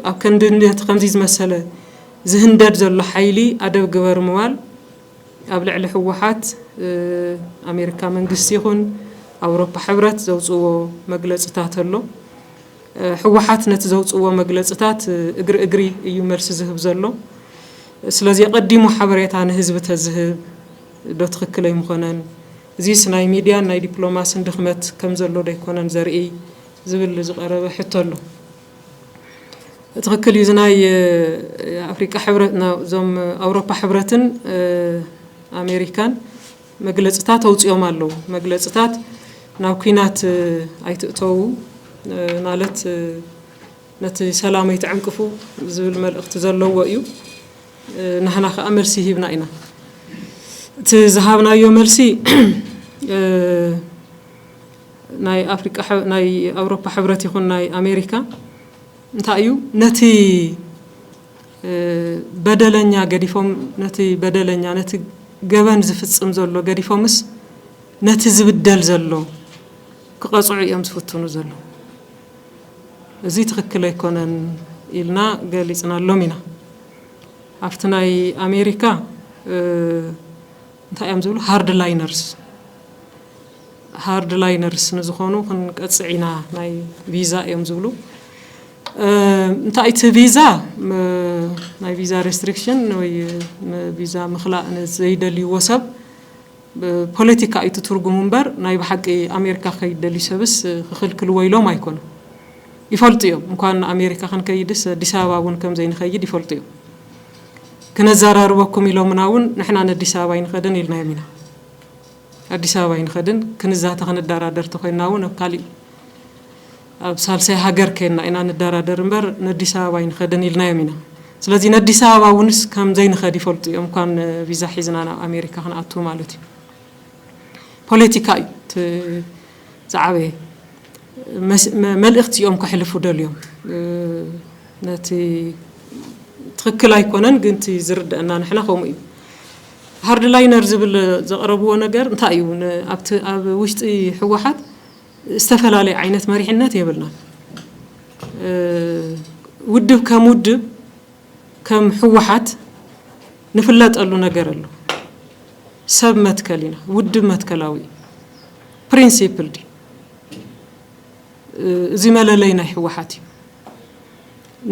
ኣብ ክንዲ ነቲ ከምዚ ዝመሰለ ዝህንደድ ዘሎ ሓይሊ ኣደብ ግበሩ ምባል ኣብ ልዕሊ ህወሓት ኣሜሪካ መንግስቲ ይኹን ኣውሮፓ ሕብረት ዘውፅዎ መግለፅታት ኣሎ። ህወሓት ነቲ ዘውፅዎ መግለፅታት እግሪ እግሪ እዩ መልሲ ዝህብ ዘሎ። ስለዚ ኣቐዲሙ ሓበሬታ ንህዝቢ ተዝህብ ዶ ትኽክል ኣይምኾነን? እዚስ ናይ ሚድያን ናይ ዲፕሎማስን ድኽመት ከምዘሎ ዶ ኣይኮነን ዘርእይ? ዝብል ዝቐረበ ሕቶ ኣሎ። ትኽክል እዩ ዝናይ ኣፍሪቃ ሕብረት እዞም ኣውሮፓ ሕብረትን ኣሜሪካን መግለፅታት ኣውፅኦም ኣለዉ መግለፅታት ናብ ኩናት ኣይትእተዉ ማለት ነቲ ሰላም ኣይትዕንቅፉ ዝብል መልእኽቲ ዘለዎ እዩ ንሕና ከዓ መልሲ ሂብና ኢና እቲ ዝሃብናዮ መልሲ ናይ ኣፍሪቃ ናይ ኣውሮፓ ሕብረት ይኹን ናይ ኣሜሪካ እንታይ እዩ ነቲ በደለኛ ገዲፎም ነቲ በደለኛ ነቲ ገበን ዝፍጽም ዘሎ ገዲፎምስ ነቲ ዝብደል ዘሎ ክቐጽዑ እዮም ዝፍትኑ ዘለዉ እዚ ትኽክል ኣይኮነን ኢልና ገሊጽናሎም ኢና ኣብቲ ናይ ኣሜሪካ እንታይ እዮም ዝብሉ ሃርድላይነርስ ሃርድላይነርስ ንዝኾኑ ክንቀጽዕ ኢና ናይ ቪዛ እዮም ዝብሉ እንታይ እቲ ቪዛ ናይ ቪዛ ሬስትሪክሽን ወይ ቪዛ ምኽላእ ንዘይደልይዎ ሰብ ፖለቲካ እዩ ትርጉሙ እምበር ናይ ብሓቂ ኣሜሪካ ክኸይድ ደልዩ ሰብስ ክኽልክልዎ ኢሎም ኣይኮኑ ይፈልጡ እዮም እንኳን ኣሜሪካ ክንከይድስ ኣዲስ ኣበባ እውን ከምዘይንኸይድ ይፈልጡ እዮም ክነዘራርበኩም ኢሎምና እውን ንሕና ነዲስ ኣበባ ኣይንኸድን ኢልናዮም ኢና። ኣዲስ ኣበባ ኣይንኸድን፣ ክንዛተ ክንደራደር ተኾይንና እውን ኣብ ካሊእ ኣብ ሳልሳይ ሃገር ከይንና ኢና ንደራደር እምበር ነዲስ ኣበባ ኣይንኸድን ኢልናዮም ኢና። ስለዚ ነዲስ ኣበባ እውንስ ከምዘይንኸድ ይፈልጡ እዮም፣ እንኳን ቪዛ ሒዝና ናብ ኣሜሪካ ክንኣትው ማለት እዩ። ፖለቲካ እዩ እቲ ዝዓበየ መልእኽቲ እዮም ከሕልፉ ደልዮም ነቲ ትኽክል ኣይኮነን ግን እቲ ዝርደአና ንሕና ከምኡ እዩ ሃርድ ላይነር ዝብል ዘቕረብዎ ነገር እንታይ እዩ ኣብቲ ኣብ ውሽጢ ህወሓት ዝተፈላለየ ዓይነት መሪሕነት የብልናን ውድብ ከም ውድብ ከም ህወሓት ንፍለጠሉ ነገር ኣሎ። ሰብ መትከል ኢና፣ ውድብ መትከላዊ እዩ፣ ፕሪንሲፕልድ እዩ። እዚ መለለይ ናይ ህወሓት እዩ።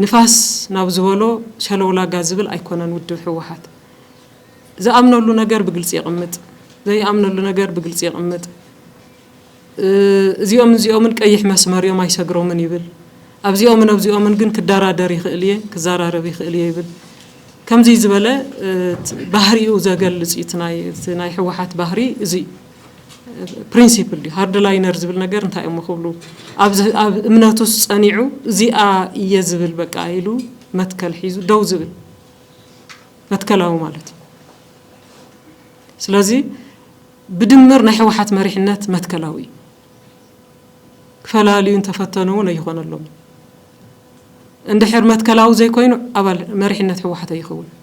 ንፋስ ናብ ዝበሎ ሸለውላጋ ዝብል ኣይኮነን ውድብ ህወሓት። ዝኣምነሉ ነገር ብግልፂ የቕምጥ፣ ዘይኣምነሉ ነገር ብግልፂ የቕምጥ። እዚኦምን እዚኦምን ቀይሕ መስመር እዮም ኣይሰግሮምን ይብል። ኣብዚኦምን ኣብዚኦምን ግን ክደራደር ይኽእል እየ፣ ክዘራረብ ይኽእል እየ ይብል። ከምዙይ ዝበለ ባህሪኡ ዘገልፅ እዩ። እቲ ናይ ህወሓት ባህሪ እዚ እዩ። ፕሪንሲፕል ድዩ ሃርድ ላይነር ዝብል ነገር እንታይ እሞ ክብሉ ኣብ እምነቱስ ጸኒዑ እዚኣ እየ ዝብል በቃ ኢሉ መትከል ሒዙ ደው ዝብል መትከላዊ ማለት እዩ። ስለዚ ብድምር ናይ ሕወሓት መሪሕነት መትከላዊ እዩ። ክፈላልዩ እንተፈተኑ እውን ኣይኾነሎምን። እንድሕር መትከላዊ ዘይኮይኑ ኣባል መሪሕነት ሕወሓት ኣይኸውንን።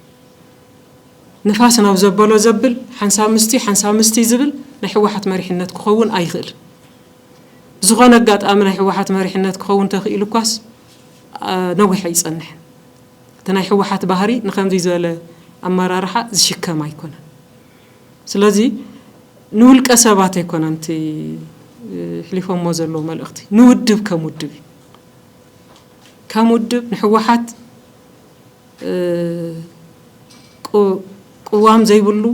ንፋስ ናብ ዘበሎ ዘብል ሓንሳብ ምስቲ ሓንሳብ ምስቲ ዝብል ናይ ሕወሓት መሪሕነት ክኸውን ኣይኽእልን። ብዝኾነ ኣጋጣሚ ናይ ሕወሓት መሪሕነት ክኸውን ተኽኢሉ እኳስ ነዊሕ ኣይፀንሕን። እቲ ናይ ሕወሓት ባህሪ ንኸምዙይ ዝበለ ኣመራርሓ ዝሽከም ኣይኮነን። ስለዚ ንውልቀ ሰባት ኣይኮነን እቲ ኣሕሊፎሞ ዘለዉ መልእኽቲ ንውድብ ከም ውድብ እዩ። ከም ውድብ ንሕወሓት ቅዋም ዘይብሉ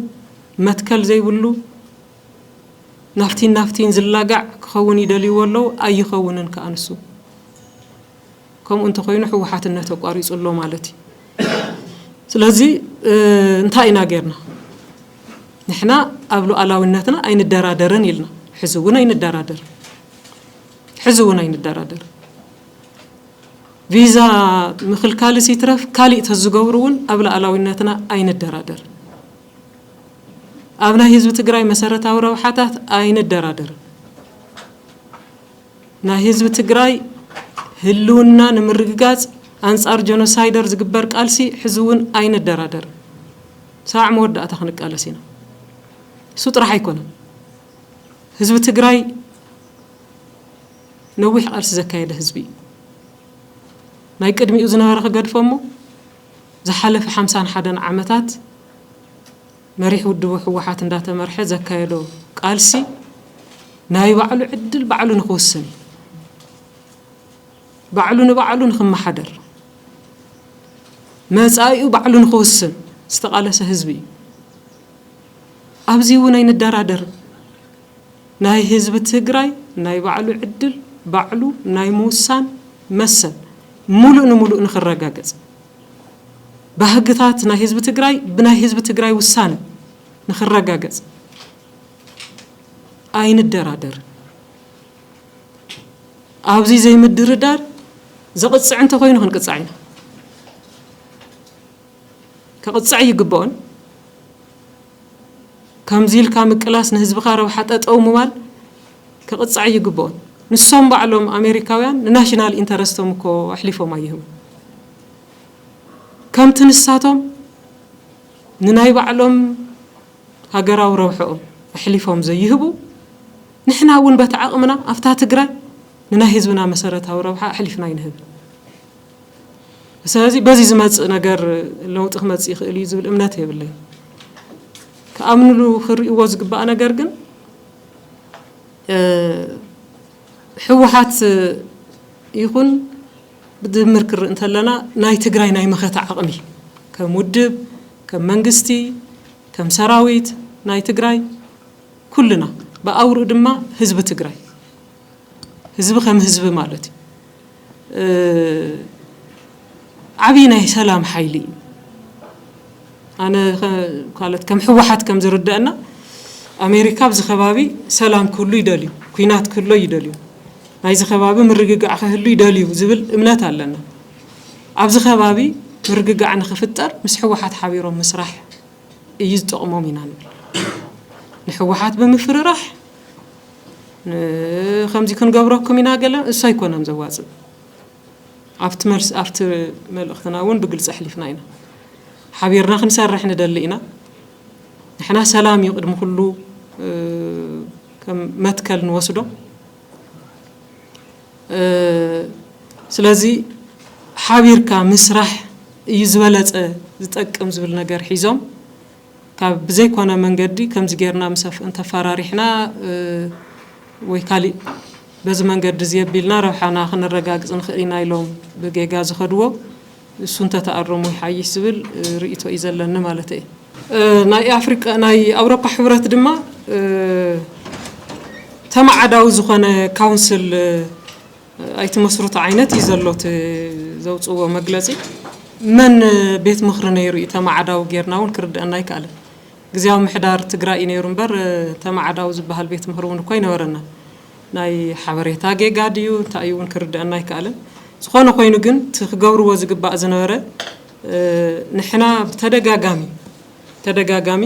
መትከል ዘይብሉ ናብቲን ናብቲን ዝላጋዕ ክኸውን ይደልይዎ ኣለዉ ኣይኸውንን ከኣ ንሱ። ከምኡ እንተኾይኑ ሕወሓትነት ኣቋሪፁ ኣሎ ማለት እዩ። ስለዚ እንታይ ኢና ጌርና? ንሕና ኣብ ሉኣላዊነትና ኣይንደራደርን ኢልና። ሕዚ እውን ኣይንደራደርን። ሕዚ እውን ኣይንደራደርን። ቪዛ ምኽልካልስ ይትረፍ ካሊእ ተዝገብሩ እውን ኣብ ሉኣላዊነትና ኣይንደራደርን። ኣብ ናይ ህዝቢ ትግራይ መሰረታዊ ረብሓታት ኣይንደራደርን። ናይ ህዝቢ ትግራይ ህልውና ንምርግጋፅ ኣንፃር ጀኖሳይደር ዝግበር ቃልሲ ሕዚ እውን ኣይንደራደርን ሳዕ መወዳእታ ክንቃለስ ኢና እሱ ጥራሕ ኣይኮነን ህዝቢ ትግራይ ነዊሕ ቃልሲ ዘካየደ ህዝቢ እዩ ናይ ቅድሚኡ ዝነበረ ክገድፎ እሞ ዝሓለፈ ሓምሳን ሓደን ዓመታት መሪሕ ውድቡ ህወሓት እንዳተመርሐ ዘካየዶ ቃልሲ ናይ ባዕሉ ዕድል ባዕሉ ንክውስን እዩ። ባዕሉ ንባዕሉ ንክመሓደር፣ መፃኢኡ ባዕሉ ንክውስን ዝተቓለሰ ህዝቢ እዩ። ኣብዚ እውን ኣይንደራደርን። ናይ ህዝቢ ትግራይ ናይ ባዕሉ ዕድል ባዕሉ ናይ ምውሳን መሰል ሙሉእ ንሙሉእ ንክረጋገፅ፣ ባህግታት ናይ ህዝቢ ትግራይ ብናይ ህዝቢ ትግራይ ውሳነ ንክረጋገፅ ኣይንደራደርን። ኣብዚ ዘይምድርዳር ዘቕፅዕ እንተኮይኑ ክንቅፃዕ ኢና። ከቕፅዕ ይግበኦን ከምዚ ኢልካ ምቅላስ ንህዝብኻ ረብሓ ጠጠው ምባል ክቅፃዕ ኣይግበኦን ንሶም ባዕሎም ኣሜሪካውያን ንናሽናል ኢንተረስቶም እኮ ኣሕሊፎም ኣይህቡን ከምቲ ንሳቶም ንናይ ባዕሎም ሃገራዊ ረብሐኦም ኣሕሊፎም ዘይህቡ ንሕና እውን በቲ ዓቅምና ኣብታ ትግራይ ንናይ ህዝብና መሰረታዊ ረብሓ ኣሕሊፍና ኣይንህብን። ስለዚ በዚ ዝመፅእ ነገር ለውጢ ክመፅእ ይኽእል እዩ ዝብል እምነት የብለይ። ክኣምንሉ ክርእይዎ ዝግባእ ነገር ግን ህወሓት ይኹን ብድምር ክርኢ እንተለና ናይ ትግራይ ናይ መኸተ ዓቕሚ ከም ውድብ ከም መንግስቲ ከም ሰራዊት ናይ ትግራይ ኩልና ብኣውርኡ ድማ ህዝቢ ትግራይ ህዝቢ ከም ህዝቢ ማለት እዩ ዓብዪ ናይ ሰላም ሓይሊ እዩ። ኣነ ማለት ከም ህወሓት ከም ዝርደአና ኣሜሪካ ኣብዚ ከባቢ ሰላም ክህሉ ይደልዩ፣ ኩናት ክህሎ ይደልዩ፣ ናይዚ ከባቢ ምርግጋዕ ክህሉ ይደልዩ ዝብል እምነት ኣለና። ኣብዚ ከባቢ ምርግጋዕ ንክፍጠር ምስ ህወሓት ሓቢሮም ምስራሕ እዩ ዝጠቕሞም ኢና ንብል። ንህወሓት ብምፍርራሕ ከምዚ ክንገብረኩም ኢና ገለ እሱ ኣይኮነን ዘዋጽእ። ኣብቲ መልስ ኣብቲ መልእኽትና እውን ብግልጺ ኣሕሊፍና ኢና። ሓቢርና ክንሰርሕ ንደሊ ኢና። ንሕና ሰላም እዩ ቅድሚ ኩሉ ከም መትከል ንወስዶ። ስለዚ ሓቢርካ ምስራሕ እዩ ዝበለጸ ዝጠቅም ዝብል ነገር ሒዞም ካብ ብዘይኮነ መንገዲ ከምዚ ጌርና ምስ ኣፍእን ተፋራሪሕና ወይ ካሊእ በዚ መንገዲ እዚ ኣቢልና ረብሓና ክንረጋግፅ ንኽእል ኢና ኢሎም ብጌጋ ዝኸድዎ እሱ እንተተኣረሙ ይሓይሽ ዝብል ርእይቶ እዩ ዘለኒ ማለት እየ። ናይ ኣፍሪቃ ናይ ኣውሮፓ ሕብረት ድማ ተማዓዳዊ ዝኾነ ካውንስል ኣይተ መስርቱ ዓይነት እዩ ዘሎ እቲ ዘውፅእዎ መግለፂ። መን ቤት ምኽሪ ነይሩ እዩ ተማዓዳዊ ገይርና እውን ክርደኣና ኣይከኣለን። ግዝያዊ ምሕዳር ትግራይ እዩ ነይሩ እምበር ተማዓዳዊ ዝበሃል ቤት ምኽሪ እውን እኮ ኣይነበረናን። ናይ ሓበሬታ ጌጋ ድዩ እንታይ እዩ እውን ክርደኣና ኣይከኣለን። ዝኾነ ኮይኑ ግን እቲ ክገብርዎ ዝግባእ ዝነበረ ንሕና ብተደጋጋሚ ተደጋጋሚ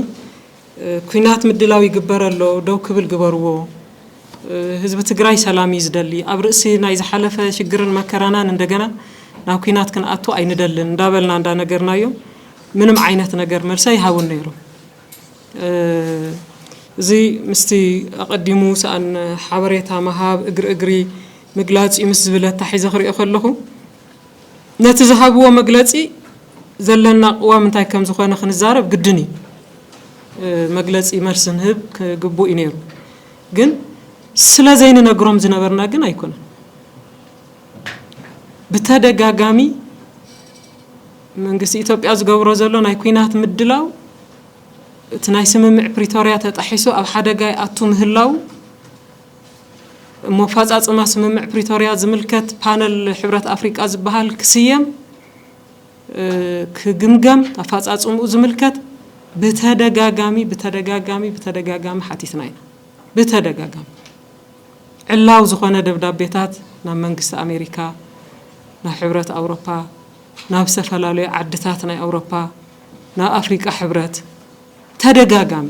ኩናት ምድላው ይግበር ኣሎ ደው ክብል ግበርዎ ህዝቢ ትግራይ ሰላም እዩ ዝደሊ ኣብ ርእሲ ናይ ዝሓለፈ ሽግርን መከራናን እንደገና ናብ ኩናት ክንኣቱ ኣይንደልን እንዳበልና እንዳነገርናዮ ምንም ዓይነት ነገር መልሲ ኣይሃቡን ነይሮም እዚ ምስቲ ኣቐዲሙ ሰኣን ሓበሬታ ምሃብ እግሪ እግሪ ምግላፅ እዩ ምስ ዝብል ኣታሒዘ ክሪኦ ከለኹ ነቲ ዝሃብዎ መግለጺ ዘለና ቅዋም እንታይ ከም ዝኾነ ክንዛረብ ግድን እዩ። መግለጺ መልሲ ንህብ ግቡእ እዩ ነይሩ። ግን ስለ ዘይንነግሮም ዝነበርና ግን ኣይኮነን። ብተደጋጋሚ መንግስቲ ኢትዮጵያ ዝገብሮ ዘሎ ናይ ኩናት ምድላው እቲ ናይ ስምምዕ ፕሪቶርያ ተጣሒሱ ኣብ ሓደጋ ይኣቱ ምህላው እሞ ኣፋፃፅማ ስምምዕ ፕሪቶርያ ዝምልከት ፓነል ሕብረት ኣፍሪቃ ዝበሃል ክስየም፣ ክግምገም፣ ኣፋፃፅምኡ ዝምልከት ብተደጋጋሚ ብተደጋጋሚ ብተደጋጋሚ ሓቲትና ኢና። ብተደጋጋሚ ዕላዊ ዝኾነ ደብዳቤታት ናብ መንግስቲ ኣሜሪካ፣ ናብ ሕብረት ኣውሮፓ፣ ናብ ዝተፈላለዩ ዓድታት ናይ ኣውሮፓ፣ ናብ ኣፍሪቃ ሕብረት ተደጋጋሚ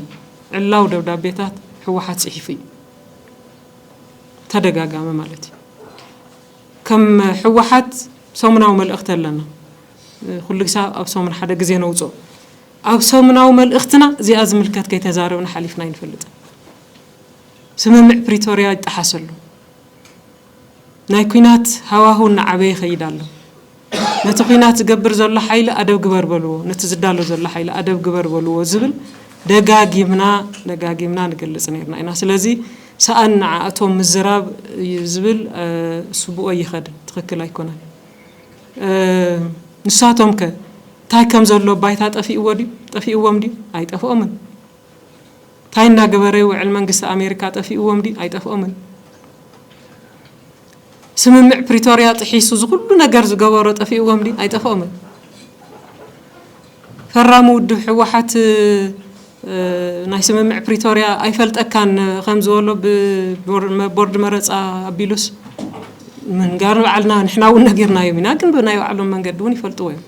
ዕላዊ ደብዳቤታት ህወሓት ፅሒፉ እዩ። ተደጋጋሚ ማለት እዩ። ከም ህወሓት ሰሙናዊ መልእኽቲ ኣለና። ኩሉ ግሳ ኣብ ሰሙን ሓደ ግዜ ነውፅኦ። ኣብ ሰሙናዊ መልእኽትና እዚኣ ዝምልከት ከይተዛረብና ሓሊፍና ኣይንፈልጥን። ስምምዕ ፕሪቶርያ ይጠሓስ ኣሎ። ናይ ኩናት ሃዋህው እናዓበየ ይኸይድ ኣሎ። ነቲ ኩናት ዝገብር ዘሎ ሓይሊ ኣደብ ግበር በልዎ፣ ነቲ ዝዳሎ ዘሎ ሓይሊ ኣደብ ግበር በልዎ ዝብል ደጋጊምና ደጋጊምና ንገልጽ ነይርና ኢና። ስለዚ ሰኣን ንዓኣቶም ምዝራብ እዩ ዝብል ስቡእ ኣይኸድን፣ ትኽክል ኣይኮነን። ንሳቶምከ እንታይ ከም ዘሎ ባይታ ጠፊእዎ ድዩ? ጠፊእዎም ድዩ? ኣይጠፍኦምን። ታይ እናገበረ ይውዕል መንግስቲ ኣሜሪካ ጠፊእዎም ድዩ ኣይጠፍኦምን ስምምዕ ፕሪቶርያ ጥሒሱ ዝኩሉ ነገር ዝገበሮ ጠፊእዎም ድዩ ኣይጠፍኦምን ፈራሚ ውድብ ሕወሓት ናይ ስምምዕ ፕሪቶርያ ኣይፈልጠካን ከምዝበሎ ቦርድ መረፃ ኣቢሉስ ምንጋር ንባዕልና ንሕና እውን ነጊርናዮም ኢና ግን ብናይ ባዕሎም መንገዲ እውን ይፈልጥዎ እዮም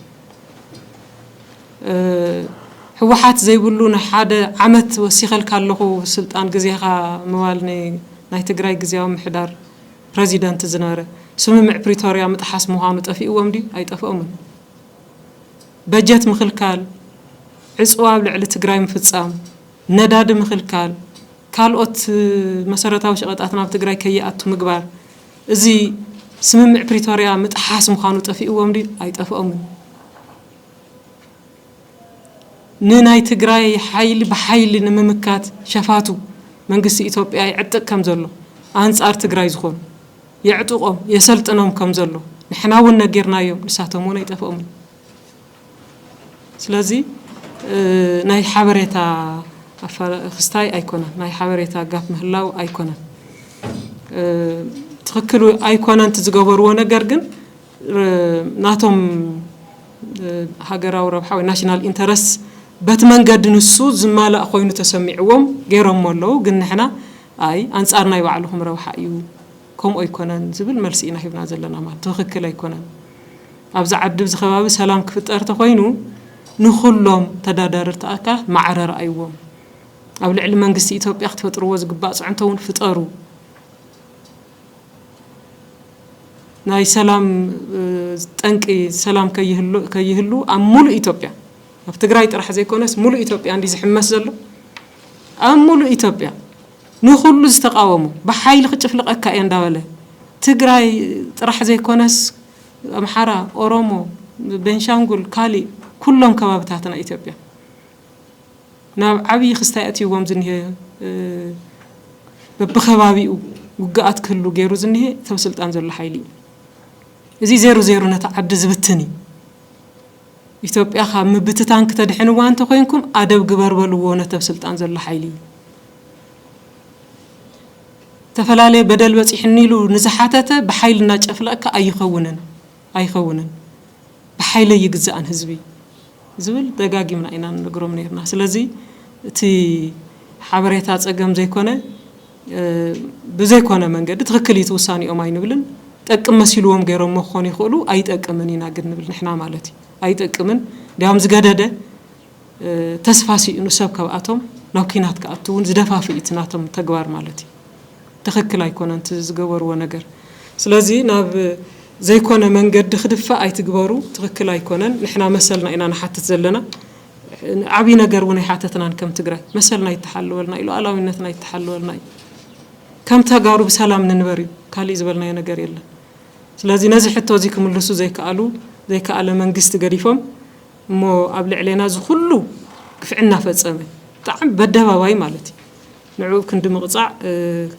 ህወሓት ዘይብሉ ንሓደ ዓመት ወሲኸልካ ኣለኹ ስልጣን ግዜኻ ምባል ናይ ትግራይ ግዝያዊ ምምሕዳር ፕረዚደንት ዝነበረ ስምምዕ ፕሪቶርያ ምጥሓስ ምዃኑ ጠፊእዎም ድዩ? ኣይጠፍኦምን። በጀት ምኽልካል፣ ዕፅዋ ኣብ ልዕሊ ትግራይ ምፍፃም፣ ነዳዲ ምኽልካል፣ ካልኦት መሰረታዊ ሸቐጣት ናብ ትግራይ ከይኣቱ ምግባር እዚ ስምምዕ ፕሪቶርያ ምጥሓስ ምዃኑ ጠፊእዎም ድዩ? ኣይጠፍኦምን። ንናይ ትግራይ ሓይሊ ብሓይሊ ንምምካት ሸፋቱ መንግስቲ ኢትዮጵያ የዕጥቅ ከም ዘሎ፣ ኣንጻር ትግራይ ዝኾኑ የዕጡቖም የሰልጥኖም ከም ዘሎ ንሕና እውን ነጊርናዮም፣ ንሳቶም እውን ኣይጠፍኦምን። ስለዚ ናይ ሓበሬታ ክስታይ ኣይኮነን፣ ናይ ሓበሬታ ጋፕ ምህላው ኣይኮነን ትኽክል ኣይኮነን እቲ ዝገበርዎ ነገር ግን ናቶም ሃገራዊ ረብሓ ወይ ናሽናል ኢንተረስት በቲ መንገዲ ንሱ ዝማላእ ኮይኑ ተሰሚዕዎም ገይሮሞ ኣለዉ ግን ንሕና ኣይ ኣንጻር ናይ ባዕልኹም ረብሓ እዩ ከምኡ ኣይኮነን ዝብል መልሲ ኢና ሂብና ዘለና ማለት ትኽክል ኣይኮነን። ኣብዚ ዓዲ ኣብዚ ከባቢ ሰላም ክፍጠር ተኾይኑ ንኹሎም ተዳዳርርቲ ኣካላት ማዕረ ረኣይዎም። ኣብ ልዕሊ መንግስቲ ኢትዮጵያ ክትፈጥርዎ ዝግባእ ፅዕንቶ እውን ፍጠሩ። ናይ ሰላም ጠንቂ ሰላም ከይህሉ ኣብ ሙሉእ ኢትዮጵያ ኣብ ትግራይ ጥራሕ ዘይኮነስ ሙሉእ ኢትዮጵያ እንድዩ ዝሕመስ ዘሎ ኣብ ሙሉእ ኢትዮጵያ ንኹሉ ዝተቃወሞ ብሓይሊ ክጭፍልቀካ እየ እንዳበለ ትግራይ ጥራሕ ዘይኮነስ ኣምሓራ ኦሮሞ ቤንሻንጉል ካሊእ ኩሎም ከባብታትና ኢትዮጵያ ናብ ዓብይ ክስታይ ኣእትይዎም ዝኒሀ በቢከባቢኡ ውግኣት ክህሉ ገይሩ ዝኒሀ እቲ ኣብ ስልጣን ዘሎ ሓይሊ እዩ። እዚ ዜሩ ዜሩ ነታ ዓዲ ዝብትን እዩ። ኢትዮጵያ ካብ ምብትታን ክተድሕንዋ እንተኮይንኩም ኣደብ ግበር በልዎ ነቲ ኣብ ስልጣን ዘሎ ሓይሊ። ዝተፈላለየ በደል በፂሑኒ ኢሉ ንዝሓተተ ብሓይሊ እናጨፍለቕካ ኣይኸውንን ኣይኸውንን ብሓይሊ ኣይግዛእን ህዝቢ ዝብል ደጋጊምና ኢና ንነግሮም ነይርና። ስለዚ እቲ ሓበሬታ ፀገም ዘይኮነ ብዘይኮነ መንገዲ ትኽክል እዩ እቲ ውሳኔኦም ኣይንብልን። ጠቅም መሲልዎም ገይሮሞ ክኾኑ ይኽእሉ ኣይጠቅምን ኢና ግን ንብል ንሕና ማለት እዩ። ኣይጠቅምን እንዲያውም ዝገደደ ተስፋ ሲእኑ ሰብ ከብኣቶም ናብ ኩናት ክኣቱ እውን ዝደፋፍእ እዩ እቲ ናቶም ተግባር ማለት እዩ። ትኽክል ኣይኮነን እቲ ዝገበርዎ ነገር። ስለዚ ናብ ዘይኮነ መንገዲ ክድፋእ ኣይትግበሩ ትኽክል ኣይኮነን ንሕና መሰልና ኢና ንሓትት ዘለና። ዓብይ ነገር እውን ኣይሓተትናን ከም ትግራይ መሰልና ይተሓለወልና እዩ ሉኣላዊነትና ይተሓለወልና እዩ ከም ተጋሩ ብሰላም ንንበር እዩ ካሊእ ዝበልናዮ ነገር የለን ስለዚ ነዚ ሕቶ እዚ ክምልሱ ዘይከኣሉ ዘይከኣለ መንግስቲ ገዲፎም እሞ ኣብ ልዕሌና እዚ ኩሉ ግፍዒ እናፈፀመ ብጣዕሚ በደባባይ ማለት እዩ ንዕኡ ክንዲ ምቕፃዕ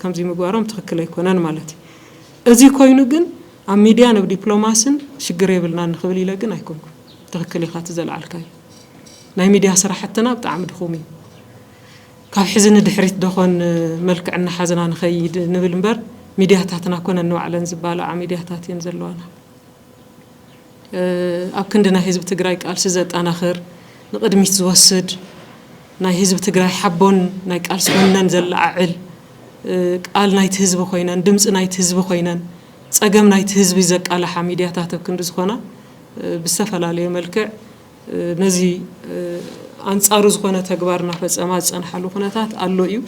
ከምዚ ምግባሮም ትኽክል ኣይኮነን ማለት እዩ እዚ ኮይኑ ግን ኣብ ሚድያን ኣብ ዲፕሎማስን ሽግር የብልናን ንክብል ኢለ ግን ኣይኮንኩን ትክክል ኢካ እቲ ዘልዓልካዮ ናይ ሚድያ ስራሕትና ብጣዕሚ ድኩም እዩ ካብ ሕዚ ንድሕሪት ደኮን መልክዕ እናሓዝና ንከይድ ንብል እምበር ሚድያታትና ኣኮነን ንባዕለን ዝባላዓ ሚድያታት እየን ዘለዋና ኣብ ክንዲ ናይ ህዝቢ ትግራይ ቃልሲ ዘጣናክር ንቅድሚት ዝወስድ ናይ ህዝቢ ትግራይ ሓቦን ናይ ቃልሲ ወነን ዘለዓዕል ቃል ናይቲ ህዝቢ ኮይነን ድምፂ ናይቲ ህዝቢ ኮይነን ፀገም ናይቲ ህዝቢ ዘቃላሓ ሚድያታት ኣብ ክንዲ ዝኮና ብዝተፈላለየ መልክዕ ነዚ ኣንጻሩ ዝኾነ ተግባር እናፈጸማ ዝጸንሓሉ ኩነታት ኣሎ እዩ።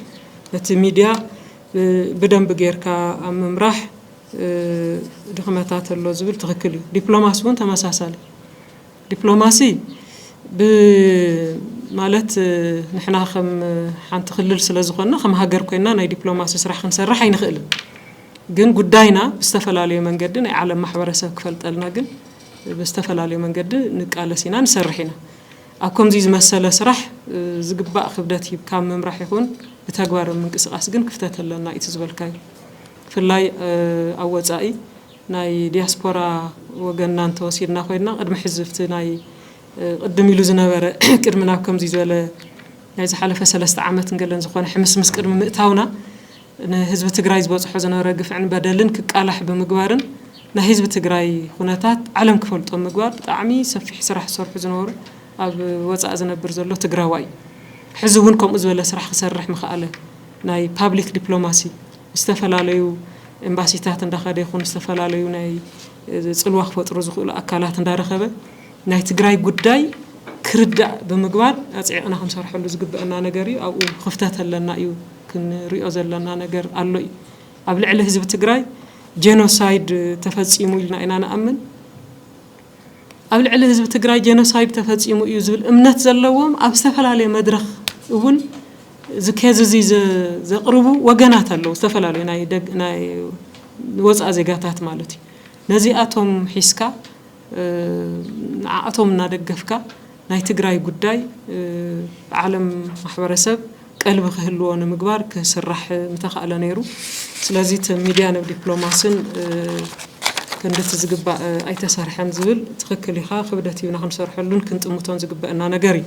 ነቲ ሚድያ ብደንቢ ጌርካ ኣብ ምምራሕ ድኽመታት ኣሎ ዝብል ትኽክል እዩ። ዲፕሎማሲ እውን ተመሳሳሊ ዲፕሎማሲ ብማለት ንሕና ከም ሓንቲ ክልል ስለ ዝኾንና ከም ሃገር ኮይንና ናይ ዲፕሎማሲ ስራሕ ክንሰርሕ ኣይንኽእልን። ግን ጉዳይና ብዝተፈላለዩ መንገዲ ናይ ዓለም ማሕበረሰብ ክፈልጠልና ግን ብዝተፈላለዩ መንገዲ ንቃለስ ኢና ንሰርሕ ኢና። ኣብ ከምዙይ ዝመሰለ ስራሕ ዝግባእ ክብደት ሂብካ ኣብ ምምራሕ ይኹን ብተግባር ኣብ ምንቅስቃስ ግን ክፍተት ኣለና እዩ እቲ ዝበልካዮ ብፍላይ ኣብ ወፃኢ ናይ ዲያስፖራ ወገንና እንተወሲድና ኮይንና ቅድሚ ሕዚ ኣብቲ ናይ ቅድም ኢሉ ዝነበረ ቅድሚ ናብ ከምዙይ ዝበለ ናይ ዝሓለፈ ሰለስተ ዓመትን ገለን ዝኾነ ሕምስምስ ቅድሚ ምእታውና ንህዝቢ ትግራይ ዝበፅሖ ዝነበረ ግፍዕን በደልን ክቃላሕ ብምግባርን ናይ ህዝቢ ትግራይ ኹነታት ዓለም ክፈልጦ ብምግባር ብጣዕሚ ሰፊሕ ስራሕ ዝሰርሑ ዝነበሩ ኣብ ወፃእ ዝነብር ዘሎ ትግራዋይ እዩ። ሕዚ እውን ከምኡ ዝበለ ስራሕ ክሰርሕ ምኸኣለ። ናይ ፓብሊክ ዲፕሎማሲ ምስ ዝተፈላለዩ ኤምባሲታት እንዳኸደ ይኹን ዝተፈላለዩ ናይ ፅልዋ ክፈጥሩ ዝኽእሉ ኣካላት እንዳረኸበ ናይ ትግራይ ጉዳይ ክርዳእ ብምግባር ኣፅዒቕና ክንሰርሐሉ ዝግበእና ነገር እዩ። ኣብኡ ኽፍተት ኣለና እዩ። ክንሪኦ ዘለና ነገር ኣሎ እዩ። ኣብ ልዕሊ ህዝቢ ትግራይ ጀኖሳይድ ተፈፂሙ ኢልና ኢና ንኣምን። ኣብ ልዕሊ ህዝቢ ትግራይ ጀኖሳይድ ተፈፂሙ እዩ ዝብል እምነት ዘለዎም ኣብ ዝተፈላለየ መድረኽ እውን እዚ ኬዝ እዚ ዘቕርቡ ወገናት ኣለዉ፣ ዝተፈላለዩ ናይ ወፃእ ዜጋታት ማለት እዩ። ነዚኣቶም ሒዝካ ንዓኣቶም እናደገፍካ ናይ ትግራይ ጉዳይ ዓለም ማሕበረሰብ ቀልቢ ክህልዎ ንምግባር ክስራሕ ምተኻእለ ነይሩ። ስለዚ እቲ ሚድያ ን ዲፕሎማስን ክንድቲ ዝግባእ ኣይተሰርሐን ዝብል ትኽክል ኢኻ። ክብደት ሂብና ክንሰርሐሉን ክንጥምቶን ዝግበእና ነገር እዩ።